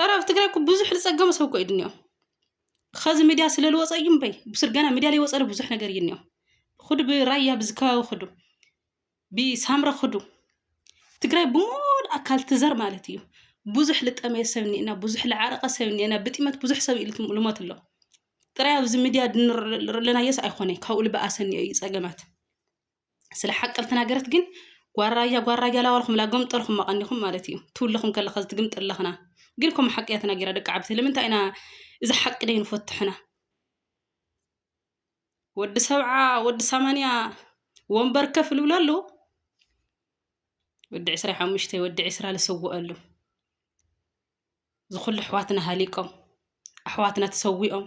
ኧረ ኣብ ትግራይ እኮ ብዙሕ ዝፀገሙ ሰብ እኮ እዩ ድንኦ ኸዚ ሚድያ ስለ ዝወፀ እዩ እምበይ ብስር ገና ሚድያ ዘይወፀለ ብዙሕ ነገር እዩ እኒኦ ኹዱ ብራያ ብዚ ከባቢ ኹዱ ብሳምረ ኹዱ ትግራይ ብሙሉ ኣካል ትዘር ማለት እዩ ብዙሕ ልጠመየ ሰብ እኒኤና ብዙሕ ልዓረቐ ሰብ እኒኤና ብጢመት ብዙሕ ሰብ እዩ ልት- ልሞት ኣሎ ጥራይ ኣብዚ ሚድያ ድንርለናየስ ኣይኮነ ካብኡ ልበኣሰ እኒኦ እዩ ፀገማት ስለ ሓቂ ተናገረት ግን ጓል ራያ ጓል ራያ ላዋልኩምላ ገምጠርኹም መቐኒኹም ማለት እዩ ትውለኹም ከለኻ ዝትግምጥ ኣለኽና ግን ከምኡ ሓቂ እያ ተናጊራ ደቂ ዓብ ስለምንታይ ኢና እዚ ሓቂ ደይ ንፈትሕና ወዲ ሰብዓ ወዲ ሰማንያ ወንበር ከፍ ልብሎ ኣለዉ ወዲ ዕስራ ሓሙሽተ ወዲ ዕስራ ዝሰውአሉ ዝኹሉ ኣሕዋትና ሃሊቆም ኣሕዋትና ተሰዊኦም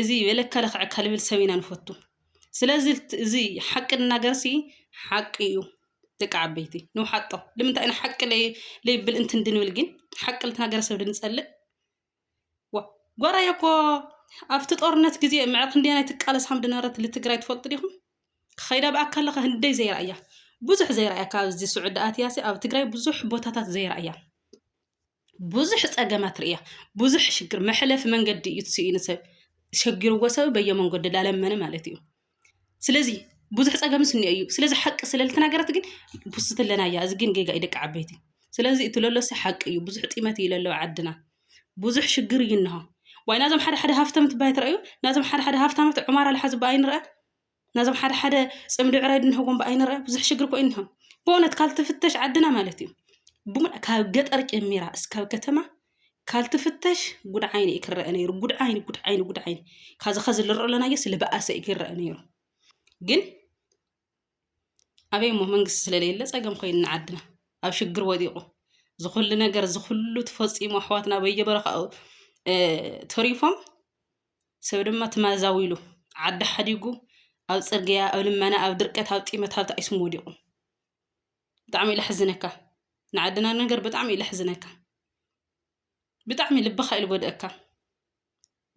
እዚ በለ ከረክዕ ከልብል ሰብ ኢና ንፈቱ ስለዚ እዚ ሓቂ ንናገርሲ ሓቂ እዩ ደቂ ዓበይቲ ንውሓጦ ልምንታይ ኢና ሓቂ ለይብል እንትን ድንብል ግን ሓቂ ልትናገር ሰብ ድንጸልእ ዋ ጓራዮ እኮ ኣብቲ ጦርነት ግዜ ምዕ ክንደይ ናይ ትቃለስ ሃም ድነበረት ልትግራይ ትፈልጡ ዲኹም ከይዳ ብኣካል ለኸ ህንደይ ዘይረኣያ ብዙሕ ዘይረኣያ ካብዚ ስዑዲ ኣትያሲ ኣብ ትግራይ ብዙሕ ቦታታት ዘይረኣያ ብዙሕ ጸገማት ርእያ ብዙሕ ሽግር መሕለፊ መንገዲ እዩ ስኢኑ ሰብ ሸጊርዎ ሰብ በየመንገዱ ላለመነ ማለት እዩ ስለዚ ብዙሕ ጸገም ስኒ እዩ ስለዚ ሓቂ ስለልተናገረት ግን ቡስት ኣለና እያ እዚ ግን ጌጋ እዩ ደቂ ዓበይቲ ስለዚ እቲ ለሎሲ ሓቂ እዩ ብዙሕ ጢመት እዩ ለለዎ ዓድና ብዙሕ ሽግር እዩ እንሆ ዋይ ናዞም ሓደ ሓደ ሃፍተም ትባይ ትረኣዩ ናዞም ሓደ ሓደ ሃፍታማት ዑማር ኣልሓ ዝባ ኣይንረኣ ነዞም ሓደ ሓደ ፅምዲ ዕራይ ድንህጎ እምበ ኣይንርኣ ብዙሕ ሽግር እኮ እዩ እኒሆ ብእውነት ካልትፍተሽ ዓድና ማለት እዩ ብሙላ ካብ ገጠር ጀሚራ እስካብ ከተማ ካልትፍተሽ ጉድ ዓይኒ እዩ ክረአ ነይሩ ጉድ ዓይኒ ጉድ ዓይኒ ጉድ ዓይኒ ካዚ ከዚ ልርኦ ኣለናዮ ስለ በኣሰ እዩ ክረአ ነይሩ ግን ኣበይ እሞ መንግስቲ ስለለየለ ፀገም ኮይኑ ንዓድና ኣብ ሽግር ወዲቑ ዝኩሉ ነገር ዝኩሉ ተፈፂሙ ኣሕዋትና በየበረካኡ ተሪፎም ሰብ ድማ ትማዛዊ ኢሉ ዓዲ ሓዲጉ ኣብ ጽርግያ ኣብ ልመና ኣብ ድርቀት ኣብ ጢመት ኣብ ተኣይስሙ ወዲቁ ብጣዕሚ ለሕዝነካ ንዓድና ነገር ብጣዕሚ ለሕዝነካ ብጣዕሚ ልብኻ ኢሉ ጎድእካ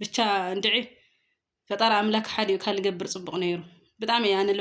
ብቻ እንድዒ ፈጣሪ ኣምላክ ሓዲኡ ካልገብር ጽቡቅ ነይሩ ብጣዕሚ ኣነ